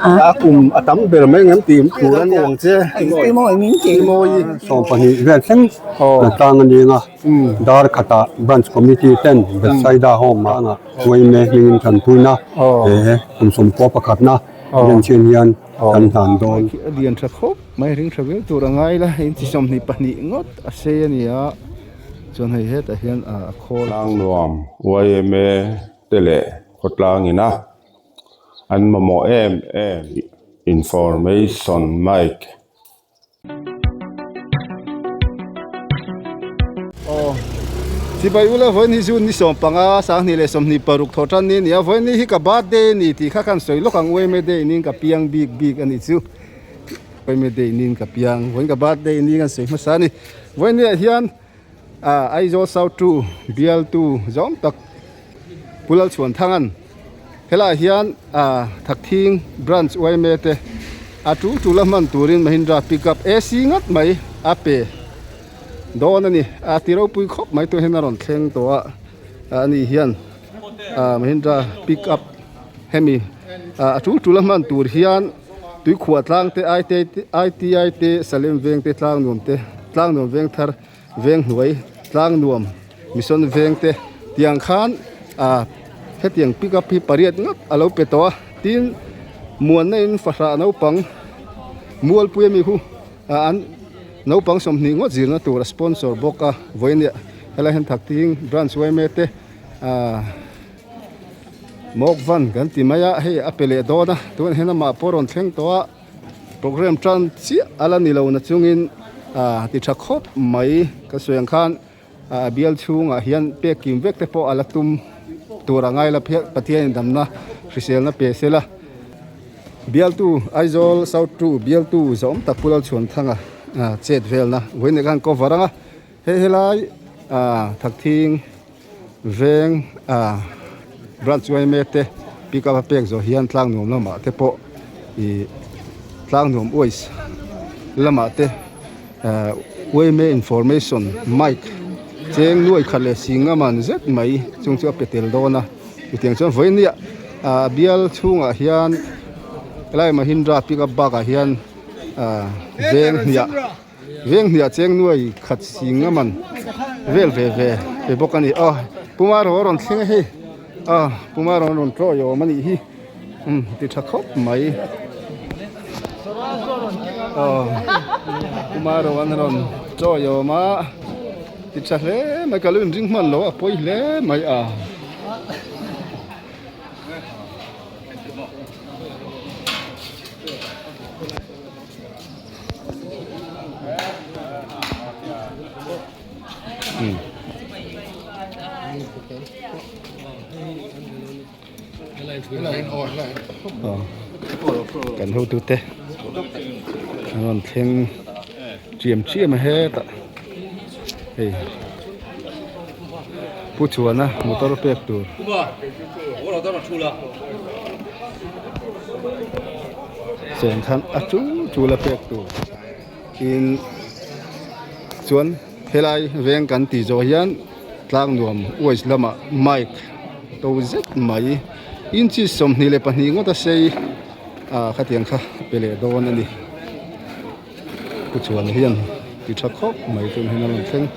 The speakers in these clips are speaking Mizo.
a kum a tam ber mai ang em tih in tur a ni ang che Tihmawii in sawm pahnih vel thleng an tang a ni ang a Darkhatah branch committee ten Betsaida home ah anga Wayne hming in kan puina kum sawmkhua pakhat na Bianchin hian kan hlan dawn a lian tha khawp mai a hring tha viau tur a ngai la hei hi chi sawmhnih pahnih ngawt a sei a ni a chuan hei hetah hian a khawl a tlang nuam yma te leh khawtlangin a. An mamawh em em information Mike. Aww Sibai ula vawiin hi June ni sawm panga sanghnih leh sawmhnih paruk thaw tan ni ania vawiin ni hi ka birthday ani tih kha khan sawi lawk ang uaime day inin ka piang bik bik ani chu uaime day inin ka piang vawiin ka birthday inin kan sawi hmasa ani vawiin ni ah hian. A Aizawl South Two bialtu zawng tak Pu Lalchuanthanga'n helaiah hian Thakthing Branch Uaime te a tul tul a hman turin Mahindra Pickup AC ngat mai a pe dawn a ni. A ti ropui khawp mai tuihin a rawn thleng tawh a, a nih hian Mahindra Pickup hemi a tul tul a hman tur hian Tuikhuah tlang te, ITI te, Salem veng te, tlang nuam te, tlang nuam veng thar, veng hnuai, tlang nuam, mission veng te tiang khan hetiang pick up hi pariat ngawt a lo pe tawh a, tin muanna in fahrah naupang Mualpui ami hu an naupang sawmhnih ngawt zirna tur a sponsor bawk a, vawiin helai han thak thing branch uaime te. Mawkvan kan ti mai a hei a pe leh dawn a tun he namah pawh a rawn thleng tawh a programme tan chiah a la nilo na chungin a ti tha khawp mai ka suang khan a bial chhungah hian pek kim vek te pawh a la tum tur a ngai la phian Pathian indamna hriselna pe se la bialtu Aizawl South two bialtu zawm tak Pu Lalchhuanthanga chet velna vawineh khan ka awm varang a. Hei helai Thakthing veng branch uaime te pick up a pek zawh hian tlang nuam lamah te pawh i tlang nuam uais lamah te uaime information mike cheng nuai khat leh singam an zet mai chung chu a pe tel dawn a chutiang chuan vawinia a bial chhungah hian helai mahindra pick up bakah hian veng hniah-- Veng hniah cheng nuai khat sing a man vel ve ve ve bawk a ni. Aw puma rawh a rawn thleng a hei. Aw puma rawh a rawn tlawih awm a nih hi. Umm ti tha khawp mai. Aw puma rawh an rawn tlawih awm a ti tha hle mai. Ka lo inring hman lo a pawi hle mai a. kan ho tu te an rawn thleng chiam chiam a hetah. hei pu chhuana motor pek tur chen khan a chu chu la pek tur tin chuan helai veng kan tih zawh hian tlak nuam waste lama mike to zet mai inchi sawmhnih leh pahnih ngawt a sei a khatiang kha pe leh dawn a ni. Ka chuan hian ti tha khawp mai chuan hei a rawn thleng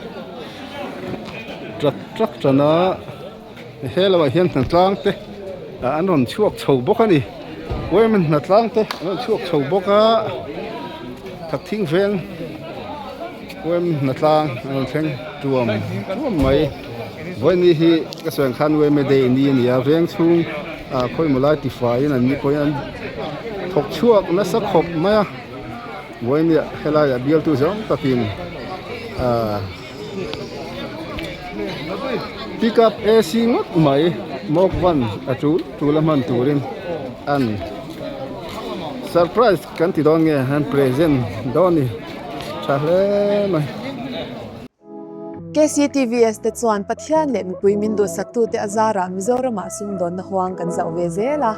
trak trak tan a, hello ah hian hnatlang te ah an rawn chhuak chho bawk a ni, Wayman hnatlang te an rawn chhuak chho bawk a, khat thing veng Wayman hnatlang an rawn thleng tuam tuam mai, vawiini hi ka sawi ang khan Wayman day ni a nia, veng chhung ah khawimaw lai tifaiin an ni pawhin an thawk chhuak nasa khawp mai a. Buaimia helaiah bialtu zawng takin pick up AC ngawt mai mawk van a chul chul a hman turin an surprise kan ti dawn nge han present dawn a ni tha hle mai. KCTVS te chuan Pathian leh mipui min duhsaktu te a zarah Mizoramah sumdawnna huang kan zauh ve zel a.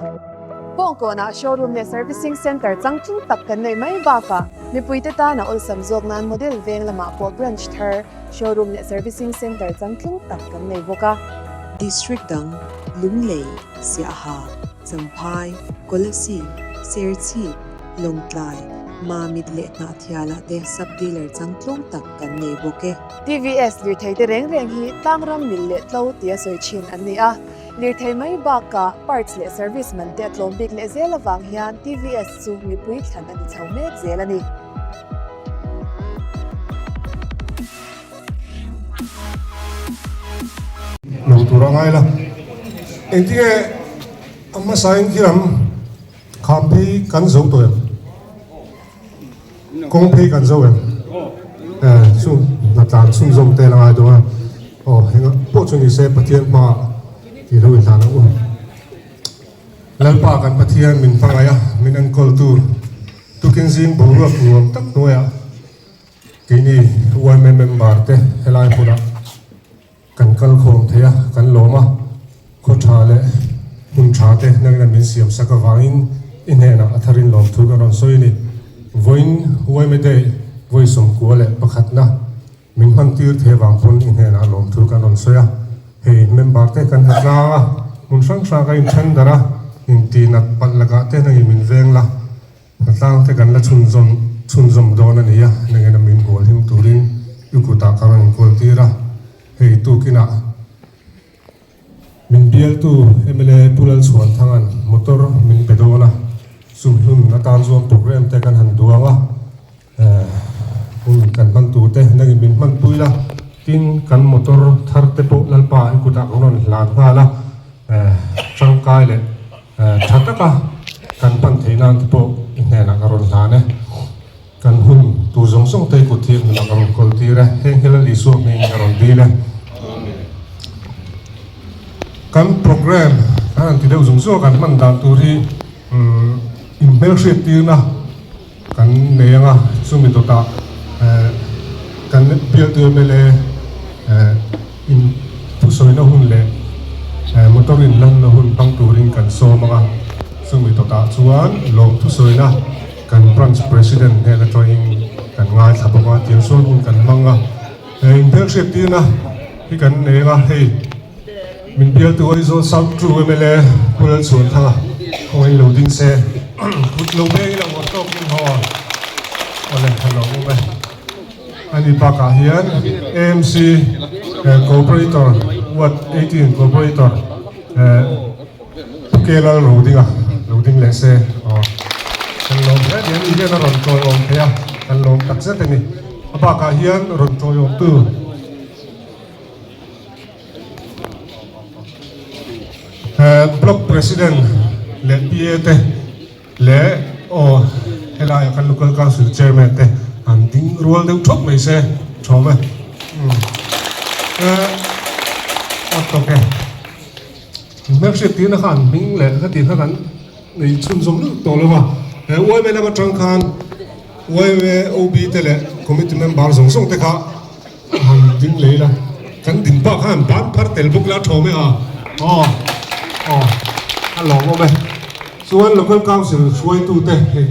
Kawng kawnah showroom leh servicing centre chang tling tak kan neih mai bakah mipuite tana awlsam zawk nan model veng lamah pawh branch thar, showroom leh servicing centre chang tling tak kan nei bawk a. District dang, Lunglei, Siaha, Champhai, Kolesi, Serchhip, Lawngtlai, Mamit leh Hnahthiala te sub dealer chang tlawm tak, kan nei bawk e. TVS lirtheite reng reng hi tlang ram mil leh tlo tia sawi thin an ni a. Lirthei mai bakah parts leh service man te a tlawm bik leh zel avang hian TVS chu mipui thlan a ni chho mek zel a ni. Hmuh tur a ngai la, engtinge a hmasain khi ram khamphei kan zo tawh em? Kawng phei kan zo em? E, chu hna tlan chhung zawm te a la ngai dawnga, aw engah pawh chu nise Pathian hmaa tih lo intlan ang u. Lalpa kan Pathian min hmangaih a, min enkawltu tukin zing boruak nuam tak hnuaiah keini uaime member te helai hunah, Kan kal khawm thei a, kan lawm a, khaw tha leh hun tha te nangin an min siam sak avangin i hnenah a tharin lawm thu kan rawn sawi a ni. Vawiin Uaime Day vawi sawmkua leh pakhatna min hman tir thei avang pawn i hnenah lawm thu kan rawn sawi a, hei member te kan hla tlang a, hmun hrang hrang ka inthen darh a, inti nat palh lakah te nangin min veng la. A tlangte kan la chhunzawm chhunzawm dawn a nia, nangin a min hual him turin i kutah ka rawn inkawl tir a, hei tukinah min bialtu mla Pu Lalchhuanthanga'n motor min be dawn a, chu hmun atan chuan programme te kan han duang a. Hun kan hman tur te nang in min hman pui la, tin kan motor thar te pawh Lalpa an kut ah ka rawn hlan nghal a, tangkai leh tha tak a kan hman theih nan te pawh i hnen ah ka rawn hlan e. Kan hun tur zawng zawng te kut hi hun ah ka rawn kawl tir e, heng hi Lal Isua hming in ka rawn dil e. Kan program kan han ti deuh zung zung a kan hman dan tur hi in hmel hriat tir na, Kan nei anga chumi dawtah kan bialtu mla in thusawina hun leh motor in lanna hun hmang turin kan sawm anga chumi dawtah chuan lawm thusawina kan Branch President hnen atangin kan ngaithla bawk a, tisawn hun kan hmang a. Inhmel hriat tirna hi kan nei anga hei. Min bialtu Aizawl South Two mla Khurlalchhuan thanga khawngaih in lo ding se kut lo biak in a uar tawk in haw a leh tha lo bawk a ni bakah hian AMC Corporator Ward Eighteen Corporator Pu Kela lo ding a lo ding leh se aw kan lawm hle mai a ni hian a rawn tawi awm thei a kan lawm tak zet a ni a bakah hian rawn tawi awmtu Block president leh PA te leh aw helaiah kan local council chairman te an ding rual deuh thawk mai se thawm e membership tihna khan an hming leh heti kha kan ei chhun zawm lutuk tawh lova he uaime lam atang khan uaime OB te leh committee member zawng zawng te kha Kan ding lei la, kan ding pa khan ban phar tel bawk la thawm e a. Aw, aw, a lawm awm e. Chuan Local Council hruaitu te hei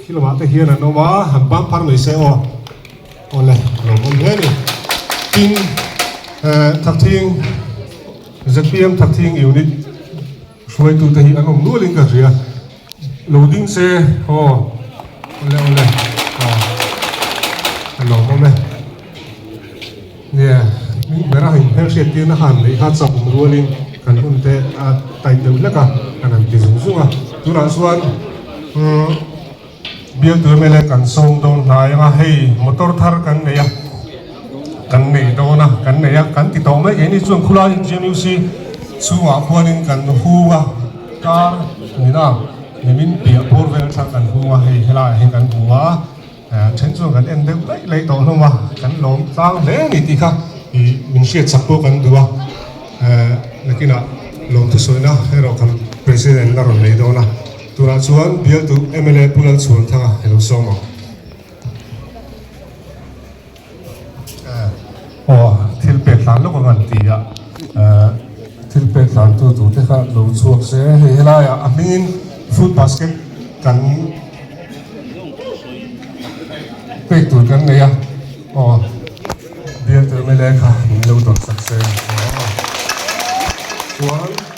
khi lamah te hian an awm a, han ban phar mai se aw. Aw le, a lawm awm hle ni. Tin, eh, Thlakthing, ZPM Thlakthing Unit, Hruaitute hi an awm nualin ka hria. Lo ding se haw. Awle awle a lawm awm e. Nia hming bera hain hmel hriat tirna han neih kha chak awm rualin kan hun te a tight deuh hlek a kan han ti zung zung a. Tunah chuan umm. Bialte mele kan sawm dawn hnai anga hei motor thar kan nei a kan nei dawn a kan nei a kan ti tawh mai keh ni chuan khulaiin GNUC chhungah khuanin kan hung a car nina nimin piah bur vel aṭang kan hung a hei helaiah hian kan hung a a ṭhen chuan kan en deuh daih leh tawh hlawm a kan lawm tlang hle a ni tih kha min hriat chak pawh kan duh a ahh nakinah lawmthu sawina erawh kan president la rawn nei dawn a. Tunah chuan bialtu mla Pu Lalchhuan Thanga hi lo sawm ang. Aw, thil pek tlan lawk ang an ti a. Thil pek tlantu tur te kha lo chhuak se. Hei helaiah a hmingin fruit basket kan pek tur kan nei a. Aw, bialtu mla kha min lo dawnsak se. Chuan.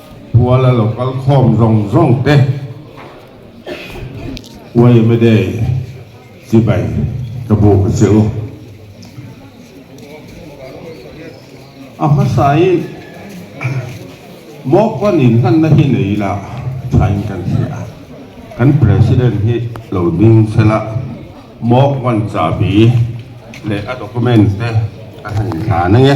Buala lo kal khawm zawng zawng te Wayamede chibai ka buk a si u. A hmasa in Mokwan in hlan na hi nei ila thain kan hria a. Kan President hi lo ding sel a Mokwan chahbi leh a document te a han intlan ange.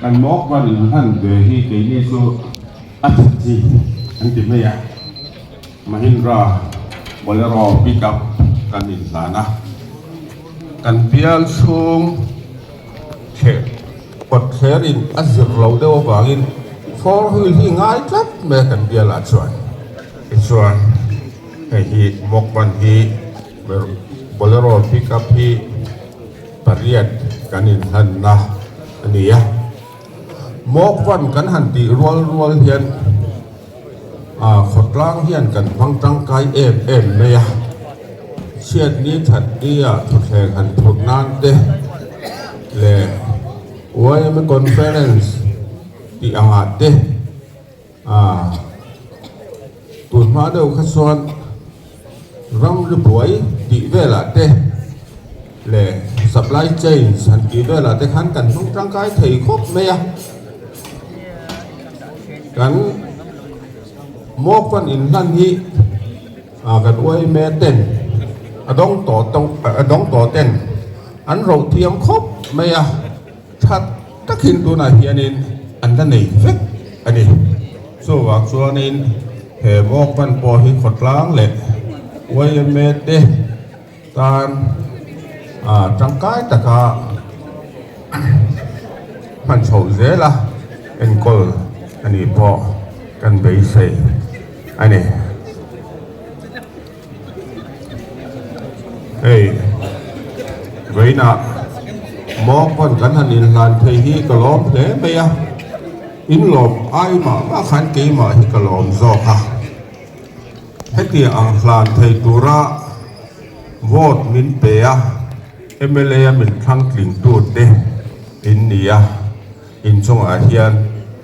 Kan mawkba'n in hlan ve hi keini chu a chhakchi an ti mai a, Mahindra Bolero Pickup kan in hlan a, kan bial chhung thleh kawt thler in a zir lo deuh avangin four wheel hi ngai tlat mai a kan bial ah chuan. Tichuan hei hi mawkba'n hi Bolero Pickup hi. Pariat kan inhlanna a ni a, mawkvan kan han tih rual rual hian khawtlang hian kan hmang tangkai em em mai a, chhiat ni that ni a thutthleng han phurh nan te leh uaina conference tih angah te. A tun hma deuh kha chuan ram lu buai tih velah te leh supply chain han tih velah te khan kan hmang tangkai thei khawp mai a. Kan mawkfan in hlan hi kan uaime ten a dawng tawh tawh a dawng tawh ten an rohthiam khawp mai a. That takin tunah hianin an la nei vek a ni. Chuvang chuanin he Walkman pawh hi khawtlang leh yma te tan tangkai taka hman chho zela enkawl a nih pawh kan beisei a ni. Hei vaina mawng pawn kan han inhlan phei hi ka lawm hle mai a, in lawm ai mah mah khan keimah hi ka lawm zawk a, hetiang ang hlan phei tura vote min pe a, mla a min thlang tling tu te in ni a, inchungah hian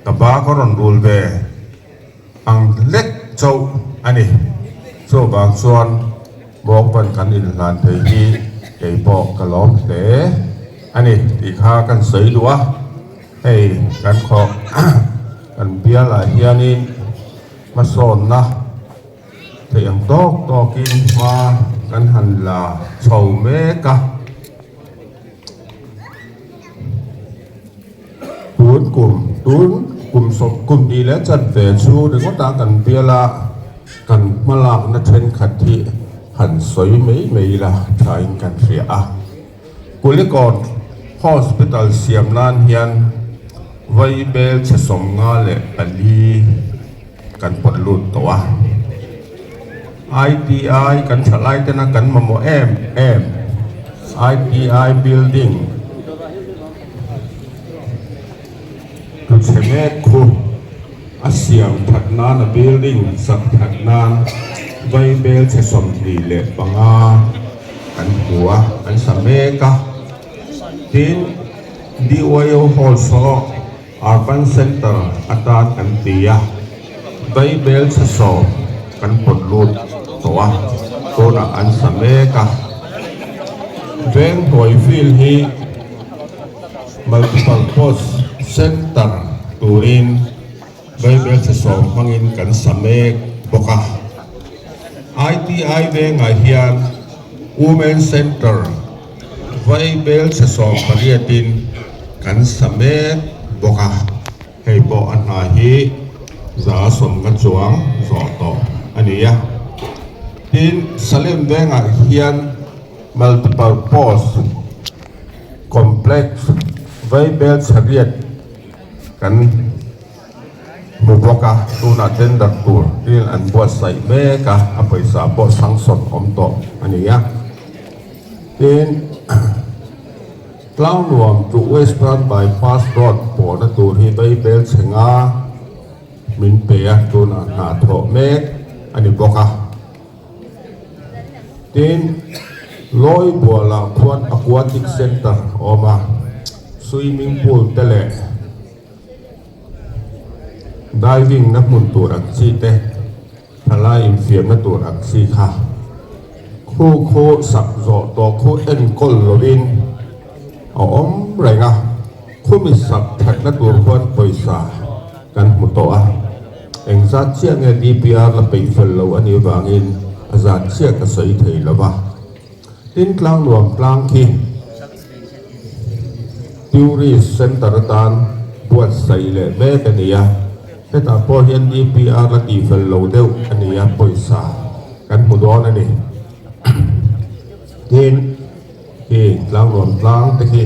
ka pa ka rawn rul ve. Ang hlek chauh a ni. Chuvang chuan Bawngban kan inhlan thei hi keipawh ka lawm hle a ni tih kha kan sawi duh a, hei kan khawh kan bialah hianin hmasawnna theih ang tawk tawkin hma kan han la chho mek a. Tun kum, tun kum sawm kum ni leh chhan ve chu ringawtah kan bial a, kan hmalakna thenkhat hi han sawi mai mai ila thain kan hria a. Kulikawt Hospital siam nan hian vaibel chhisawm nga leh pali, Kan pawt lut tawh a, ITI kan thalai tena kan mamawh em em, ITI building thuchhe met khu a siam that nan a building sak that nan vaibel chhe sawmhnih leh panga kan hmu a, kan sa mek a, tin BYO hall saw. Urban Centre atan kan ti a, Bible chhasawm kan pawt lut tawh a, tunah an sa mek a. Veng hnuai field hi Multipurpose Centre turin Bible chhasawm hmangin kan sa mek bawk a. ITI vengah hian Women Centre, Vaibel sa sawm pariatin kan sa mek bawk a. Hei pawh a hna hi za sawmnga chuang zawh tawh a ni a. Tin, Salem vengah hian Multiple Pause Complex Vaibel chariat kan. hmu bawk a, tunah tender tur tlin an buatsaih mek a, a pawisa pawh sanction awm tawh a ni a, tin tlang nuam chu western bypass road pawhna tur hi Beibelchhenga min pe a, tunah hna thawh mek a ni bawk a, tin Lawibuala Khuan Aquatic Centre a awm a, swimming pool te leh. Diving na hmun tur ang chi te thalai infiam na tur ang chi kha khu khu sak zawh tawh khu enkawl lovin a awm reng a, khumi sak that na tur khuan pawisa kan hmu tawh a, engzat chiah nge DPR la peih fel loh anih vangin a zan chiah ka sawi thei lova. Tin, Tlang nuam tlang khi Tourist Centre atan buat saih leh mek a ni a, hetah pawh hian DPR la tih fel lo deuh a ni a, pawisa kan hmu dawn a ni. Tin, khi tlang nuam tlang te khi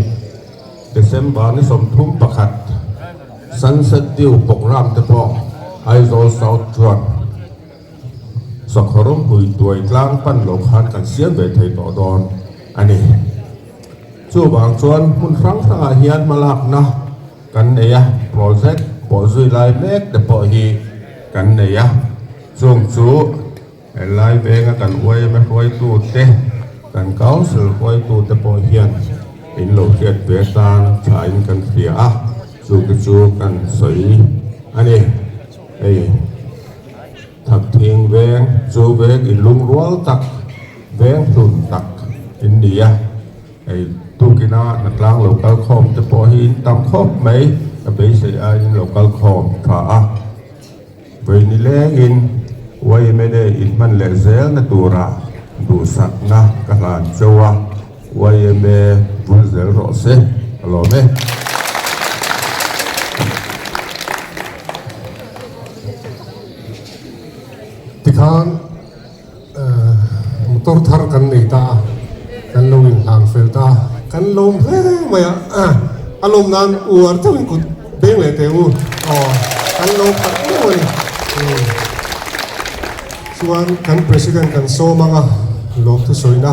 December ni sawmthum pakhat Sunset View programme te pawh Aizawl South chuan, Sakhaw rawngpui tuai tlang pan lo khan kan siam ve thei tawh dawn a ni. Chuvang chuan hmun hrang hrangah hian hmalakna kan nei a, project pawh zui lai mek te pawh hi kan nei a. Chung chu helai vênga kan uaima hruaitute, kan council hruaitute pawh hian in lo hriat ve atan thlain kan hria a, chu te chu kan sawi a ni. Hei thak thing veng chu veng in lung rual tak veng hlun tak in ni a hei tuk ina hna tlang lo kal khawm te pawh hi in tam khawp mai ka beisei a in lo kal khawm tha a vei ni leng in yma in hman leh zel na tura duhsak na ka hlan chauh a. Yma vun zel rawh se alawm e. Tikhan ehh motor thar kan nei ta a, kan lo in hlan fel ta a, kan lawm hle mai a, a lawm nan uar chauh in kut beng leh teh u aw kan lawm tak deuh a ni umm chuan kan president kan sawm anga lawmthu sawina.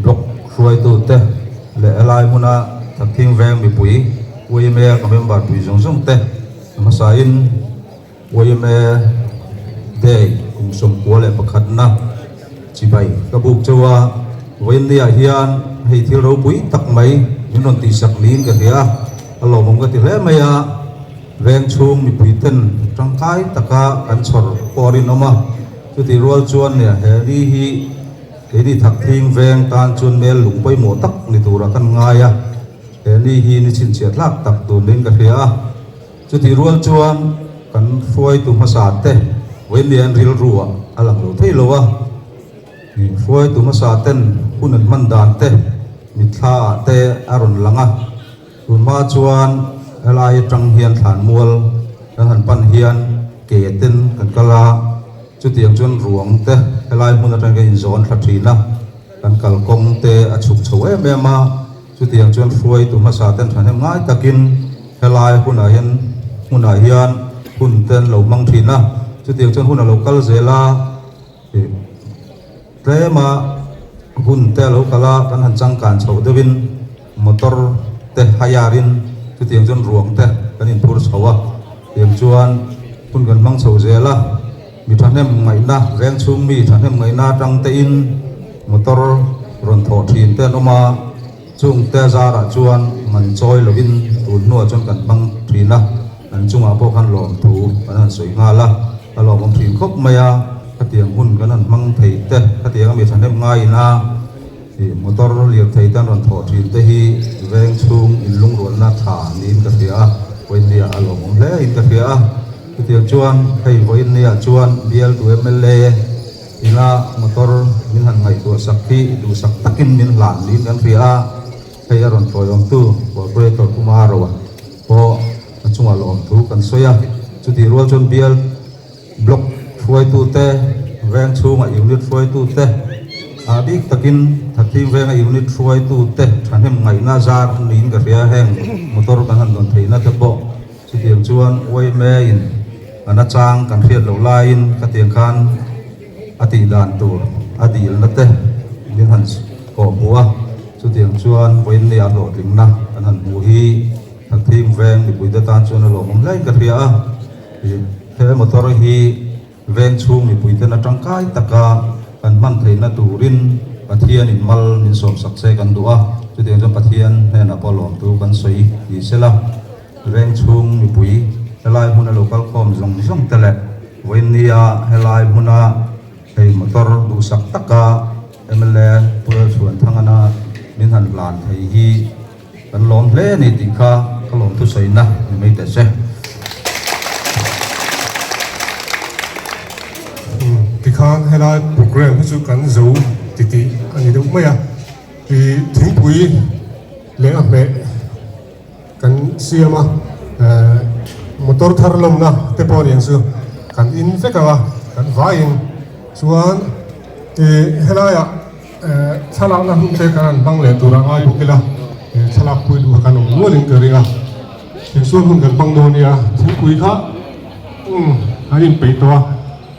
Blog hruaitute leh helai hmuna thakthing veng mipui yma ka member pui zawng zawng te hmasain yma day kum sawmkua leh pakhat na chibai ka buk cheu a vainni ah hian hei thil ropui tak mai min rawn tihsak niin ka hria a lawmawm ka ti hle mai a veng chhung mipui ten tangkai taka kan chhawr pawh a rinawm a chutirual chuan nia he ni hi Kei ni thak thing veng tan chuan mel lung pawimawh tak ni tura kan ngai a, he ni hi ni chhinchhiah tlak tak tur niin ka hria a, chutih rual chuan kan hruaitu hmasa te Vawinia an rilru ah a lang lo thei lo a, hruaitu hmasa ten hun an hman dan te mitthla ah te a rawn lang a. Tunhma chuan helai atang hian thlan mual kan han pan hian ke ten kan kal a, chutiang chuan ruang te helai hmun atang hian inzawn thla thina kan kal kawng te a chhuk chho em em a, chutiang chuan hruai tu hmasa ten thahnem ngai takin helai hunah hian hmunah hian hun ten lo hmang thina chutiang chuan hun a lo kal zel a. Tlema hun te a lo kal a, kan han changkan chhoh deuh in motor te hire in chutiang chuan ruang te kan in phur chho a, tiang chuan hun kan hmang chho zel a, mi thahnem ngaihna veng chhung mi thahnem ngaihna atang te in motor rawn thawh thin te an awm a, chung te zar ah chuan man chawi lo in tun hnu ah chuan kan hmang thin a, an chung ah pawh khan lawm thu kan han sawi nghal a. Ka lo awm thin khawp mai a, khatiang hun kan rawn hmang thei te, khatianga mi thahnem ngaiin a ih motor lirthei te an rawn thawh thin te hi veng chhung inlungrualna tha niin ka hria a, vawinia a lawmawm hle in ka hria a. Chutiang chuan hei vawinia chuan bialtu mla ina motor min han ngaihtuah sak hi duhsak takin min hlan niin kan hria a, hei a rawn thawiawmtu Corporator Kumaro a. Pawh a chungah la awm thu kan sawi a. Chutih rual chuan bial block hruaitute, veng chhunga unit hruaitute, ah bik takin thathim venga unit hruaitute thahnem ngaihna zar an niin ka hria a. Heng motor kan han dawn theihna te pawh chutiang chuan Oime-in kan a chang kan hriat loh laiin khatiang khan A tih dan tur a dilna te min han kawh hmu a, chutiang chuan vawiinneih a hlawhtlinna kan han hmuh hi thathim veng mipui te tan chuan a lawmawm hlei ka hria a, he motor hi veng chhung mipui ten a tangkai taka kan hman theihna turin Pathian in mal min sawmsak che kan duh a, chutiang chuan Pathian hnenah pawh lawmtu kan sawi tih se la. Veng chhung mipui helai hmuna lo kal khawm zawng zawng te leh vawinia helai hmuna hei motor duhsak taka mla Pural Chhuanthangana min han hlan thei hi kan lawm hle a ni tih kha ka lawmthusaina ni mai ta che. Tikhan helai programme hi chu kan zo titih a ni deuh mai a, thingpui leh a hmeh. Kan siam a, ehh motor thar lawmna te pawh nen chu kan in vek ang a, kan vaiin chuan ihh helaiah ehh thlalakna hnu te kan rawn hmang leh tur a ngai bawk ila, ehh thlalak pui duh a kan awm nualin ka ring a, tichuan hun kan hmang dawn nia thingpui kha umm an inpeih tawh a.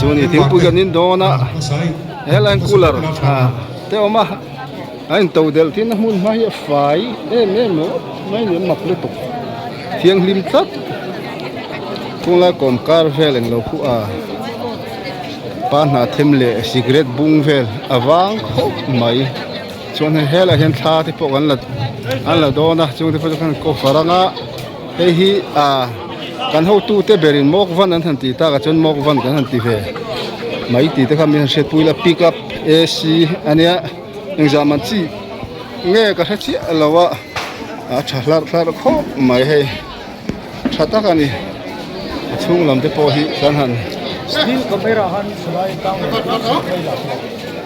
chuan i thingpui kan in dawn a helai cooler ah te awm a a in to delh thin a hmun hma hi a fai em em lo mai ni an mak lutuk thianghlim tlat kung lai kawm kar vel eng lo khuh a pa hnahthim leh cigarette bung vel a vang khawp mai chuan hei helaiah hian thla te pawh kan la an la dawn a chuan te pawh chuan ka hre rang a. Hei hi ah kan hotu te berin mawkvan an han ti takah chuan mawkvan kan han ti ve. Mai ti te kha min han hriatpui la pick up ac a nia engzah man chi nge ka hre chiah lo a a tha hlar hlar khawp mai hei tha tak a ni a chhung lam te pawh hi kan han--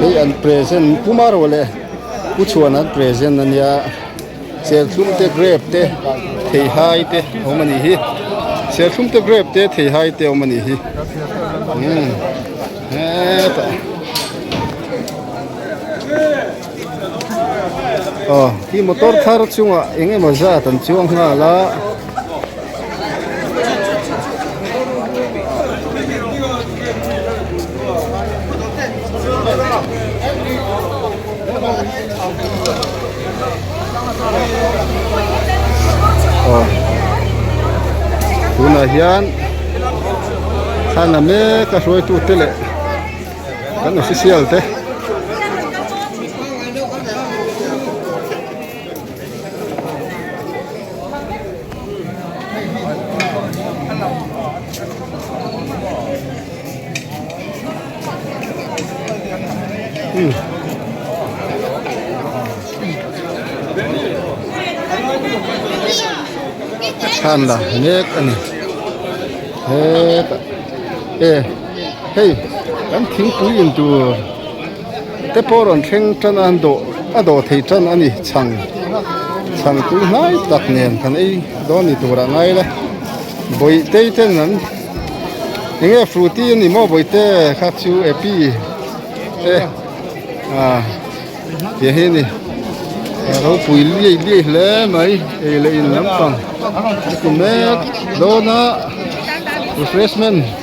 hei an present puma rawh leh pu chhuan an present a nia serthlum te grape te theihai te a awm a nih hi serthlum te grape te theihai te a awm a nih hi umm hetah. Aw, khi motor thar chungah eng emaw zat an chuang nghal a. Aw, tunah hian thlan a mek a hruaitute leh. kan official te chhan la mek a ni he ta e. Hei kan thingpui in tur te pawh rawn thleng tan a, an dawh a dawh thei tan a ni. Chhang chhang tui hnai tak nen kan ei dawn ni tur ah ngai la. Bawi tei te an enge fruity a ni maw bawi te kha chu api te ah tih hi a ni. Ropui liai liai hle mai ei leh in lampang a ti mek dawn a refreshment --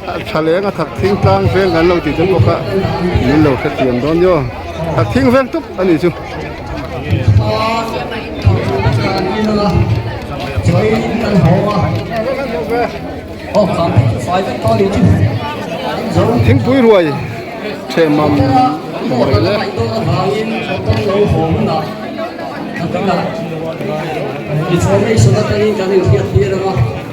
Thaleng a thak thing tlang veng kan lo ti tel bawk a, min lo hrethiam dawn ni aw. Thak thing veng tuk a ni chu. Thingpui ruai che mam mai le. Information atangin kan inthiat tir ang a.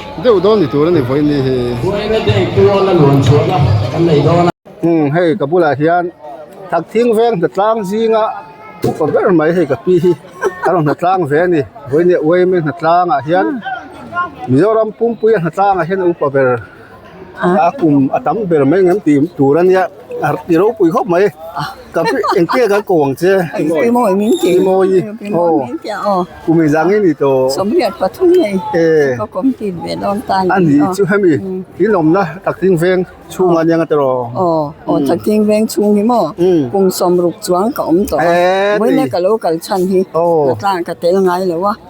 Deuh dawn ni tur a ni vawi ni hi. Buaina dei pawh la luan chhuak a kan nei dawn a. Umm hei ka bulah hian thak thing veng hna tlang zinga upa ber mai hei ka pi hi a rawn hna tlang ve a ni. Vawinia uaim e hna tlangah hian Mizoram pumpuia hna tlangah hian a upa ber. a kum a tam ber mai ang em tih tur a nia i ropui khawp mai engtiang kan ko ang che Tihmawii min ti Tihmawii aw kum inzam nge ni tawh Sawmriat pathum nei e ka kawm tih ve dawn ta a ni a ni chu hemi in awmna takting veng chhung a nia tawh aw aw takting veng chhung hi maw kum sawmruk chuang ka awm tawh a vawiina ka lo kal chhan hi ka tlangah ka tel ngai lo a.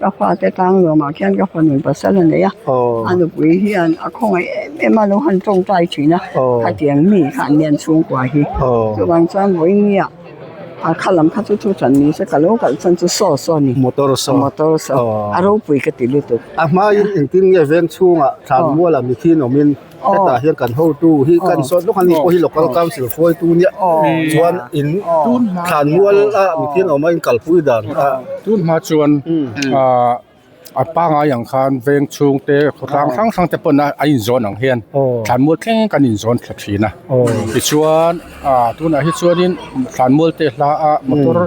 Ka fate tlang nuamah khian ka fanu pasal a nei a, a nupui hian a khawngaih em em a, lo han tawngtai thin a, khatiang mi kha an lian chhungkua hi, chuvang chuan vawi nge a kha lam kha chu thu chan ni se ka lo kalh chhan chu saw saw a ni, motor saw, motor saw a ropui ka ti lutuk. A hmaiin engtin nge veng chhungah thlan mual a mithi nawmin. Hetah hian kan hotu hi kan sawi hlawk a ni, pawh hi local council hruaitu nia chuan in thlan mual a mithian awm a in kalpui dan a. Tun hma chuan a pangai ang khan veng chhung te khawtlang hrang hrang te pawn a inzawn ang hian thlan mual thleng kan inzawn thla thin a. Tichuan tunah hi chuanin thlan mual te hla a motor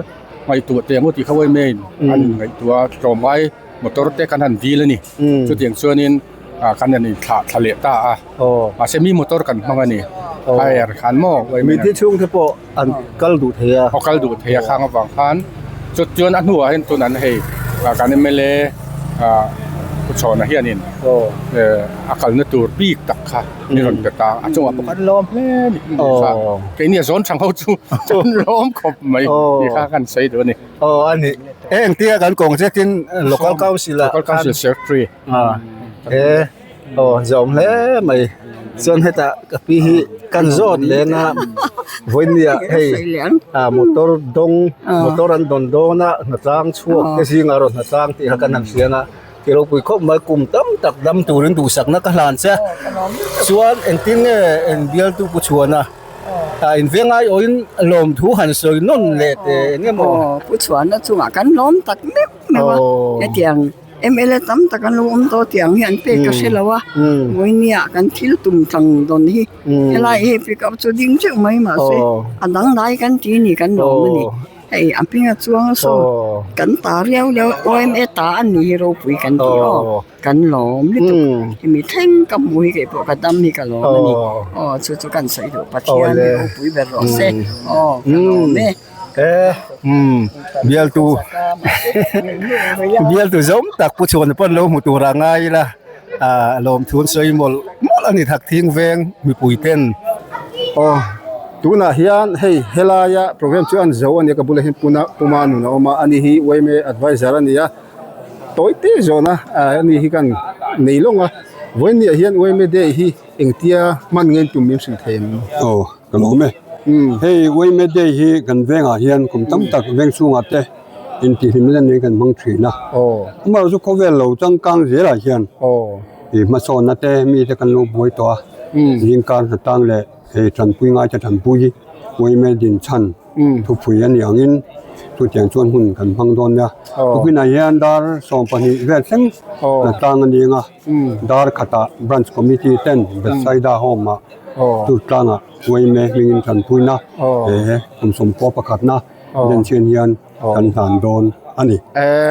ngaihtuah te emaw tih kha awm e in an ngaihtuah a tlawmngai motor te kan han dil a ni chutiang chuanin. ah khan ani thla thla leh ta a aw mahse mi motor kan hmang ani tyre han maw mitti chhung te pawh an kal duh thei a aw kal duh thei a khang avang khan chuan chuan a hnua hian tun an hei ah kan mla ah pu chhawnna hianin aw a kalna tur bik tak kha min rawn pe ta a chungah pawh kan lawm hle ni tih kha keini a zawn chhang ho chu kan lawm khawp mai tih kha kan sawi duh ani aw ani e engtia kan kawng zetin local council ah local council secretary ah he aw zawm hle mai chuan hetah ka pi hi kan zawt leng a vawinia hei ah motor dawng motor an dawn dawn a hnatlâng chhuak te zingah erawh hnatlâng tih kha kan han hriang a ti ropui khawp mai kum tam tak dam turin duhsakna ka hlan che chuan engtin nge eng bialtu pu chhuahna ah invengrai awhin lawmthu han sawi nawn leh teh engemaw pu chhuahna chungah kan lawm tak meuh meuh a hetiang. Mla tam tak an lo awm tawh a tiang hian pek ka hre lo a, Vawinia kan thil tum tlang dawn hi, helai hei pick up chu ding teuh mai mah se a dang lai kan ti a ni kan lawm a ni, hei a hming a chuang a saw kan ta riau riau awm e ta an nih hi ropui kan ti aw kan lawm lutuk hemi thleng ka hmuh hi kei pawh ka dam hi ka lawm a ni aw chu chu kan sawi duh Pathian hi ropui ber rawh a se aw ka lawm e. Eh umm bialtu bialtu zawng tak pu chhuahna pawh an lo hmu tur ah a ngai ila ah lawmthu sawi mawlh mawlh a ni thlak thing veng mipui ten aw tunah hian hei helaia programme chu an zo a ni a ka bulah hian puna puma nun a awm a ani hi uaim a advisor a ni a tawi te zawhna ah ani hi kan nei lawng a vawiin ni ah hian uaim day hi engtia hman ngeiin tum min hrilh thei ang aw. Ka lo me. Hei Wayme Day hi kan vengah hian kum tam tak veng chhungah te intihlim len niin kan hmang thin a. Amaherawh chu khawvel lo changkang zelah hian ih hmasawnna te mite kan lo buai tawh a. Zingkar hnatang leh hei tanpui ngaite tanpui hi Wayme din chhan thupui a ni angin chutiang chuan hmun kan hmang dawn nia. Khawpinah hian dar sawm pahnih vel thleng hnatang a ni anga Darkhatah Branch Committee ten Bethsaida Home-ah, Chu tlangah Wayne hmingin kan puin a, he kum sawmpua pakhatna Denchian hian kan dan dawn a ni.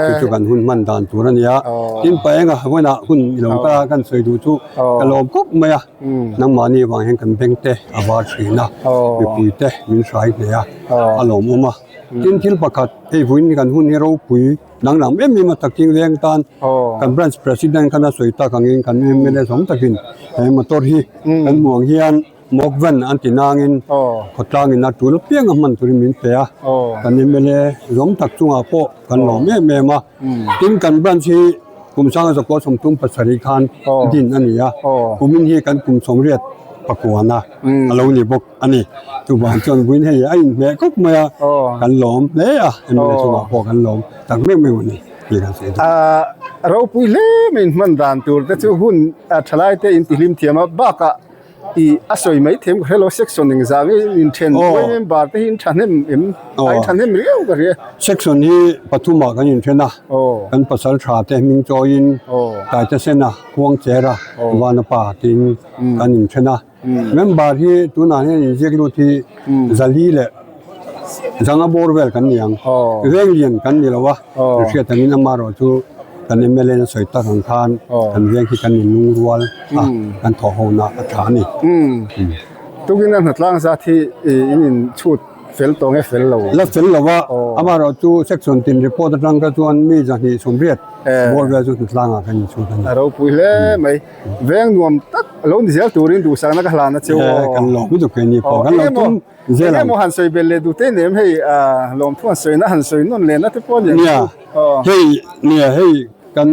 Chu chu kan hun hman dan tur a ni a, tin pa enga Wayne-a hun i lo kal a, kan sawi duh chu ka lawm khawp mai a, nangmahni vang hian kan bengte a var thin a, mipuite min hrai hneh a, a lawmawm a. Tin thil pakhat, hei vuin kan hun hi ropui. Dang dang em em a takin veng tan kan branch president khan a sawi tak angin kan mla zawng takin he motor hi kan hmuh ang hian mock van an ti nangin khaw tlangin a tul apiang a hman turin min pe a, kan mla zawng tak chungah pawh kan lawm em em a, tin kan branch hi Kumsanga Zakual Sawmthum pasarih khan din a ni a, kumin hi kan kum sawmriat pakua na a lo ni bawk. A ni. Chuvang chuan vawin hei a inhmeh khawp mai a, kan lawm hle a, Emily chungah pawh kan lawm tak meuh meuh a ni tih kan sawi thei. Ropui hle mai in hman dan tur te chu hun thalai te in ti hlim thiam a, bakah i a sawi mai thiam ka hre lo, section eng zah ngei in then buai member te hi in thahnem em? Ai in thahnem riau ka hrei a. Section hi pathumah kan in then a, kan pasal tha te hming chawiin Taitesena, Huangchera, Vanapa tiin kan in then a. Member hi tunah hian inziak lut hi Zali leh Zanga bawr vel kan ni ang. Veng lian kan ni lo a, kan hriat ang in amaherawh chu kan mla na sawi tak ang khan kan veng hi kan inlung rual a, kan thaw ho na a tha a ni. Tukin a hnatlâng zat hi in inchhut fel tawh ang e, fel lo? La fel lo a, amaherawh chu section tin report atang kha chuan mi zahnih sawmriat bawr vel chu hnatlangah kan inchhut a ni. A ropui hle mai. Veng nuam tak lo ni zel turin duhsakna ka hlan a cheu aw. He kan lawm pu dukin ni pawh kan lo tum zel ang. Engemaw han sawi bel leh duhte nem hei lawm thu han sawina han sawi nawn lehna te pawh a ni ang chu. Hei nia hei kan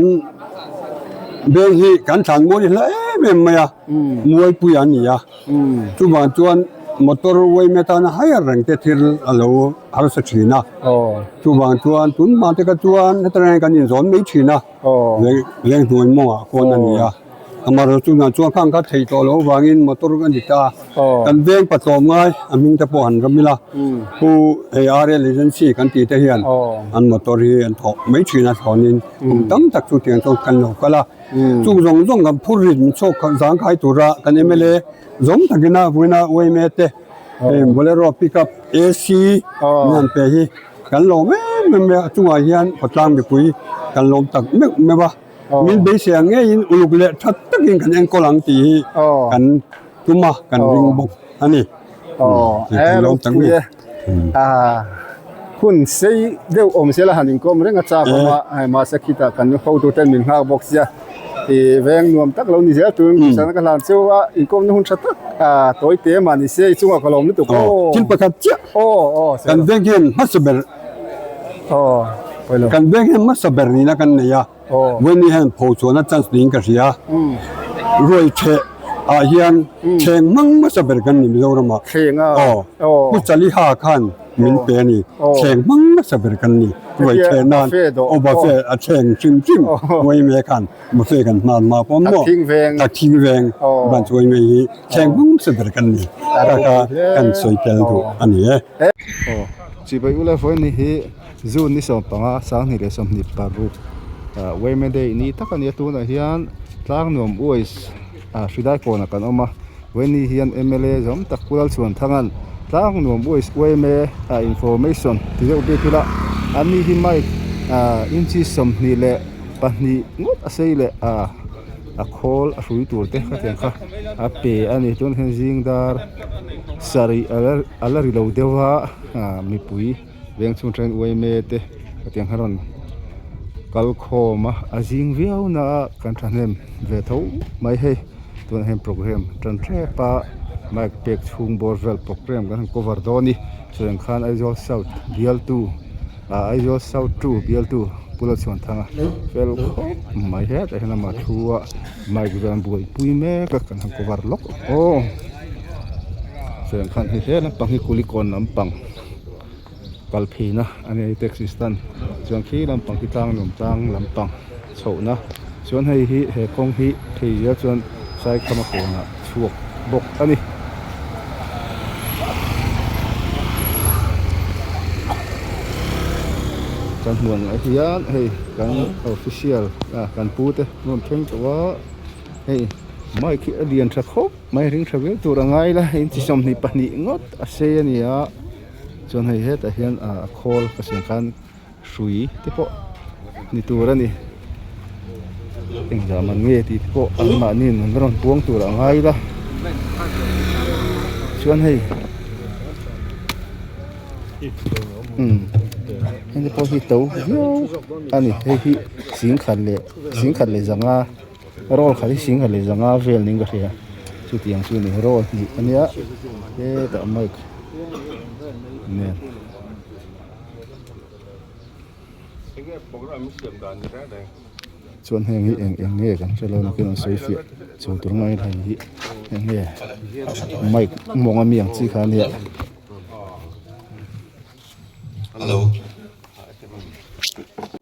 veng hi kan thlan mawi hla em em mai a, mualpui a ni a. Chuvang chuan motor uaina tana hai a reng te thil a lo harsa thin a. Chuvang chuan tun hmate kha chuan heta reng hian kan inzawn mai thin a. Leng hnuai mawngah khawn a ni a, Amaral tunah chuan kha an khat thei tawh loh avangin motor a ni ta. Kan veng pa tlawm ngai, a hming te pawh han ram ila, pu hei RL agency kan tihte hian an motor hi an thawh mai thin a thlawnin kum tam tak chu tiang chuan kan lo kal a. Chung zawng zawng kan phur rin chhawk kha zang khai tura kan mla zawng takin a Uaina Uaimete, hei Bolero, Pickup, AC, mianpe hi. Kan lawm em em mai a, a chungah hian Khaw Tlang mipui kan lawm tak meuh meuh a, min beisea ngeiin uluk leh tha takin kan enkawl ang tih hi kan tum a, kan ring bawk a ni. Kan lawm tak mai a. Hun sei deuh awmzia la han inkawm reng a chak awm a, mahse khitah kan hotute an min nghak bawk sia. Ih veng nuam tak lo ni zel tûrin ka hrisana ka hlan cheu a, inkawmna hun ṭha tak a tawi tê mah ni se, i chungah ka lawm lutuk aw. Aw, thil pakhat chiah. Aw, aw, se lo. Kan veng hian hmasa ber. Aw, pawi lo. Kan veng hian hmasa ber nîna kan nei a, Vawinia hian pho chuana chance niin ka hria. Ruai ṭheh ah hian thleng hmang hmasa ber kan ni mizoram ah. Thleng a? Aw. Aw. Pu Chaliha khan. min pe a ni, thleng hmang nasa ber kan ni, ruai chhe nan aw buffet a thleng hrim hrim uai mai khan buffet kan hman hma pawm maw, tak thing veng brunch uai mai hi thleng hmang nasa ber kan ni tak a kan sawi tel duh a ni e. Aw chibai ula e fawn ni hi June ni sawm panga sanghnih leh sawmhnih paruk uai mai day ni tak a ni a, tunah hian tlang nuam uai-- ah hridai pawnah kan awm a vaini hian mla zawm tak Kullalchuanthanga'n tlang nuam uaih uai mai e a information ti deuh bik ila an ni hi mic ah inchi sawmhnih leh pahnih ngawt a sei leh ah a khawl a hrui tur te ka tiang kha a pe a ni tunah hian zingdar sarih ala ri lo deuha ah mipui-- veng chhung aṭangin uaime te ka tih ang kha rawn kal khawm a a zing viau naah kan ṭhahnem ve tho mai hei tunah hian programme ṭan ṭep a mic pek chhung bawr vel programme kan han cover dawn i chuvah ang khan aizawl south bialtu ah aizawl south two bialtu pula chhuanthanga fel khawp mai het a hnam a ṭhu a mic vel an buaipui mek a kan han cover lawk aw chuvah ang khan hei hlel lampang hi kulikawn lampang. kal phin a a ni a taxi stand chuan khi lampang khi tlang nuam tlang lampang chhoh na chuan hei hi he kawng hi khi zia chuan Saikhama pawnah chhuak bawk a ni. Kan hmuh ang ah hian hei kan official kan pu te hmun thleng tawh a hei mic hi a lian tha khawp. Hmai hring tha viau tur a ngai la in chi sawmhnih pahnih ngawt a sei a ni a chuan hei hetah hian a khawl ka siam khan hrui te pawh ni tur a ni engzah man nge tih te pawh an mahni in an lo rawn buang tur a ngai la chuan hei umm hei te pawh hi to viau a ni hei hi zing khat leh zing khat leh zanga. Roll khat hi Singha leh Zanga vel ning ka hria chutiang chu ni roll hnih ka nia he tah mic nen chuan heng hi eng eng nge kan hrelo nakin an sawi fiah chho tur mai hei hi eng nge mic mawng ami ang chi kha nia hello.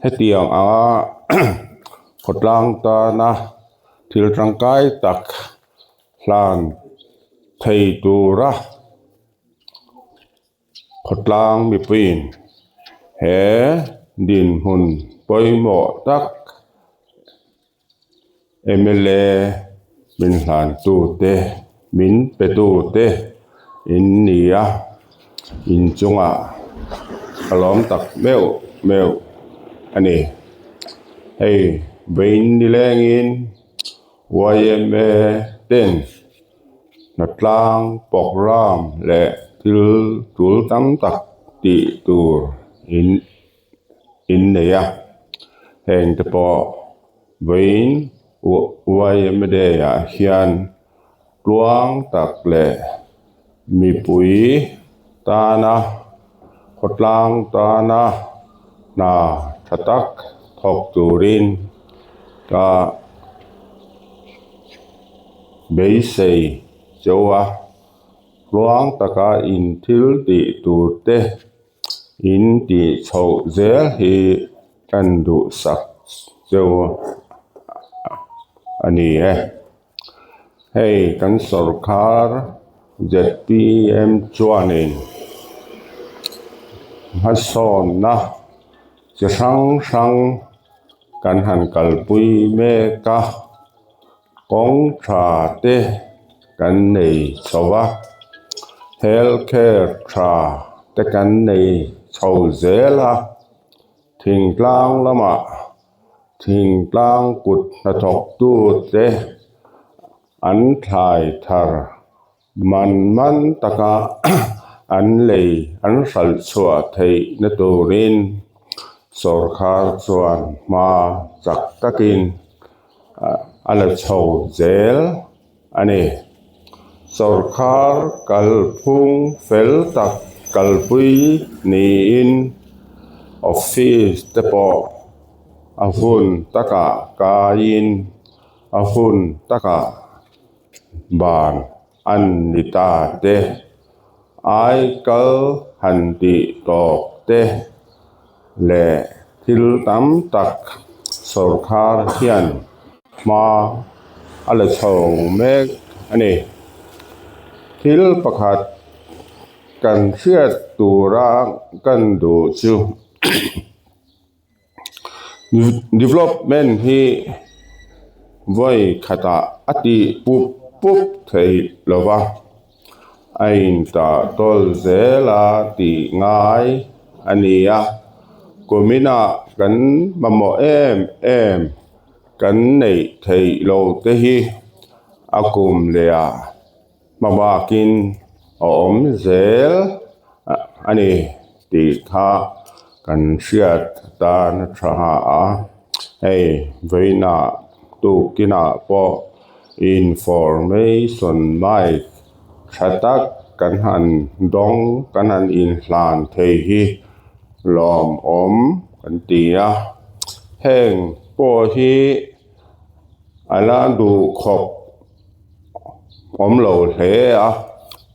Hetiang anga khawtlang tana thil tangkai tak hlan thei tura khawtlang mipuiin he dinhmun pawimawh tak. Mla min hlantute, min petute in ni a, in chungah a lawm tak meuh meuh a ni. Hei vawiin ni lengin yma ten Hnatlâng programme leh thil tul tam tak tih tur in-- in nei a, heng te pawh vawiin YMA Day ah hian tluang tak leh mipui tana, khawtlang tana hna tha tak thawk turin ah beisei cheu a, tluang taka inthil tih tur te in tih chho zel hi tan duh sak deuh a a ni e hei kan sawrkar zpm chuanin hmasawnna chi hrang hrang kan han kalpui mek a. Kawngtha te kan nei chho va, health care tha te kan nei chho zel a, thingtlang lamah thingtlang kut hnathawk tute an thlai thar Hman hman taka an lei an hralhchhuah theih na turin sorkar chuan hma chak takin a la chho zel a ni. Sorkar kalphung fel tak kalpui niin office te pawh a hun takah kaiin a hun takah ban an ni ta te, ai kal han tih tawk te leh thil tam tak sorkar hian hma a la chho mek a ni. Thil pakhat kan hriat tura kan duh chu, Development hi vawi khatah a ti pup pup thei lo va, a in ta tawl zel a tih ngai a ni a. Kuminah kan mamawh em em kan neih theih lo te hi a kum leh a. hma bakin a awm zel a ni tih kha kan hriat dan a tha hlua a, hei vawiina tukina pawh information mai tha tak kan han dawng kan han inhlan thei hi lawmawm kan ti a, heng pawh hi a la duh khawp awm lo hle a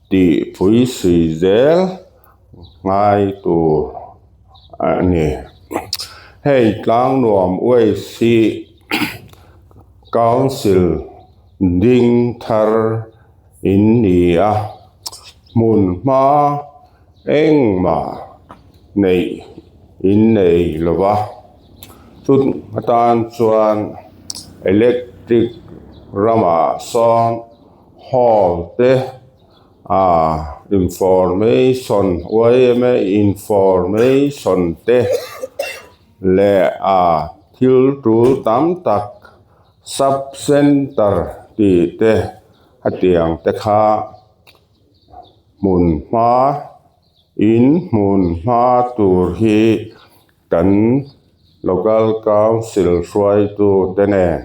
tih phuisui zel ngai tur a ni hei tlang nuam waste hi council ding thar in ni a hmun hma-- Engmah neih in nei lo va, chut atan chuan electric ramah sawn hall te ahh information uaia information te leh ahh thil tul tam tak sub centre tih te hetiang te kha. hmun hma in hmun hma tur hi kan local council hruaitu te nen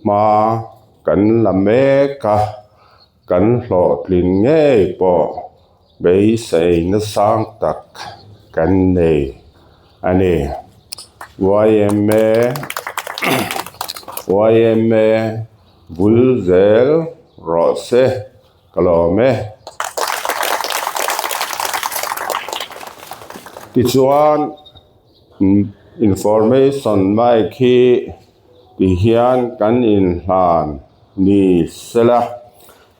hma kan la mek a kan hlawhtlin ngei pawh beisei nasang tak kan nei a ni yma bul zel rawh se. Ka la awm e. Tichuan, information mic hi ti hian kan inhlan ni sela,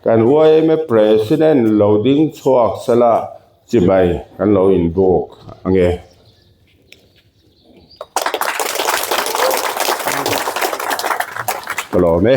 kan yma president lo ding chhuak sela chi mai kan lo inbuk ange. Ka la awm e.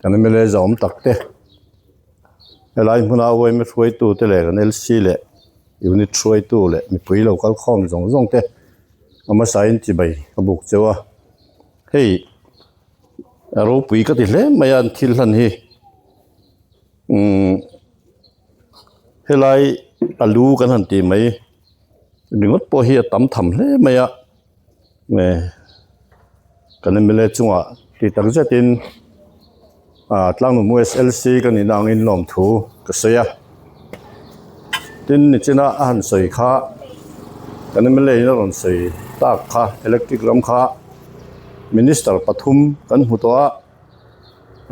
Kan MLA zawm tak te, helai hmuna uaime hruaitu te leh kan LC leh unit hruaitu leh mipui lo kal khawm zawng zawng te Hmasain chi mai ka buk cheu a, hei a ropui ka ti hle mai a an thil hlan hi umm helai a lu kan han tih mai ringawt pawh hi a tam tham hle mai a. Nge kan mla chungah tih tak zetin ahh Tlangnungbu SLC ka nihna ang in lawm thu ka sawi a, tin nichina a han sawi kha kan mla in a rawn sawi tak kha electric ram kha minister pathum kan hmu tawh a,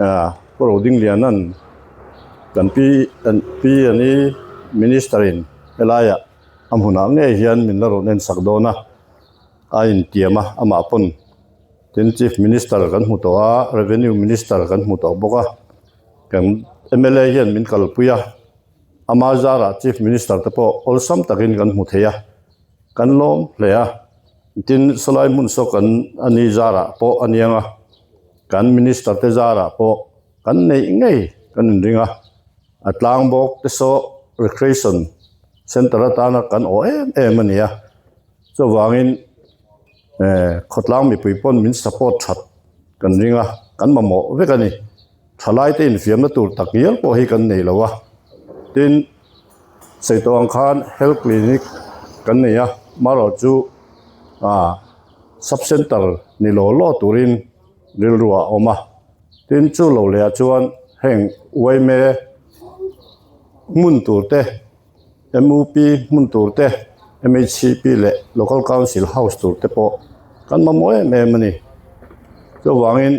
ahh Pu Rodinglianan kan pi an pi an ni minister in helaiah. a hmunah ngei hian min la rawn en sak dawn a a intiam a amah pawn tin chief minister kan hmu tawh a revenue minister kan hmu tawh bawk a kan mla hian min kalpui a ama zara chief minister te pawh awlsam takin kan hmu thei a kan lawm hle a tin Sawlaimun saw kan a ni zarah pawh a niang a kan minister te zarah pawh-- Kan neih ngei kan inring a, a tlang bawk te sawh Recreation Centre atana kan aw em em a nia. Chuvangin khawtlang mipui pawn min support that kan ring a, kan mamawh vek a ni. Thalaite infiamna tur tak ngial pawh hi kan nei lo a. Tin, Seituan khan Health Clinic kan nei a, mahro chu Sub-Centre ni law law turin rilru a awm a. Tin, chu lo leh ah chuan heng uaime hmun tur te, MUP hmun tur te, MHCP leh Local Council House tur te pawh kan mamawh em em a ni. Chuvangin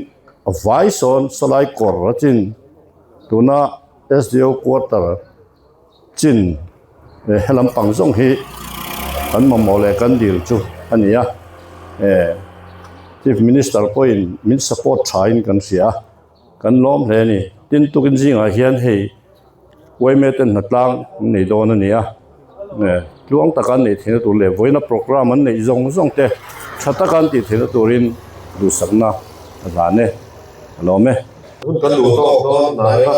a vai sawn Salai kawr a chin tuna SDO Quarter, Chin, eh, he lam pang zawng hi kan mamawh leh kan dil chu a ni a, eh, Chief Minister pawhin min support thain kan hria a, kan lawm hle a ni. Tin tukin zingah hian hei Yma ten hna tlang an nei dawn a ni a, eh, tluang taka an neih theihna tur leh vawiina programme an neih zawng zawng te tha taka an tih theihna turin duhsakna a zan e, a lawm e. Kan duh tawk dawn hnai a.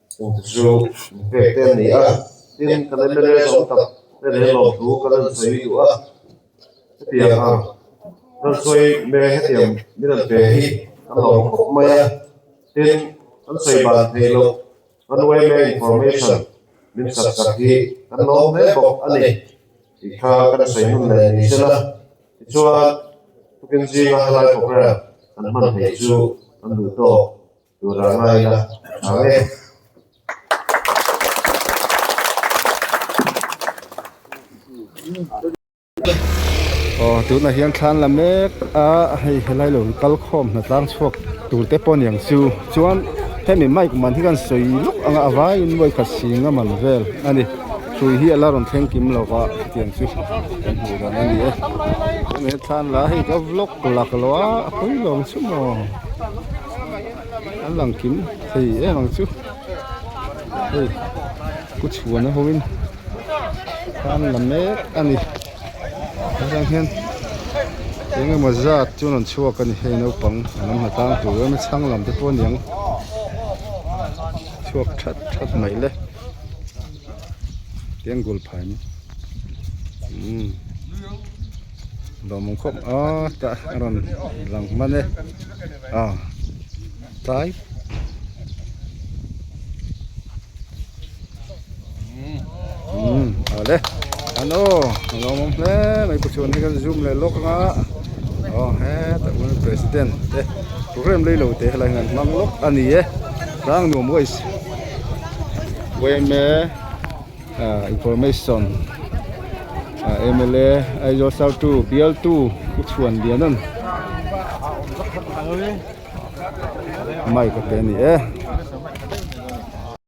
Kum chu min pek te an ni a, tin kan en mele zawng tak te leh lawm thu ka rawn sawi duh a, hetiang ang rawn sawi meng hetiang min rawn pek hi kan lawm khawp mai a, tin kan sawi ban theih loh runway meng information min sak sak hi kan lawm hle bawk a ni tih kha ka hre sawi hun leh ni se la, tichuan tukin zinga helai programme kan hman theih chu kan duh tawk Tura ngaina ang e. Aw tunah hian thlan la mek a hei helai lo kal khawm hna tlang chhuak tur te pawh niang chu chuan hemi mic man hi khan sawi luh ang a avangin vawi khat sing a man vel a ni hrui hi a la rawn thleng kim lo va tiang chu kan hmuh dan a ni e hemi thlan la hi ka vlog lak lo a a pui lawm chu maw. an lang kim thei em ang chu hei ku chhuahna hoin kham la mek a ni helai hian eng emaw zat chuan an chhuak a ni hei naupang an awm hna tang tur em a chhang lam te pawh a niang chhuak that that mai le tiang gul phai umm. Bawmawng khawp aaa ta a rawn lang hman e aw tlai umm aw le an aw a lo awm hle mai pawh chuan hi kan zoom leh lawk anga aw heta hun president te program lei lo te hi an han hmang lawk a ni e tlang nuam wise. Information MLA Aizawl Sar two Bial two U Chhuan Lianan Mic a pe a ni e.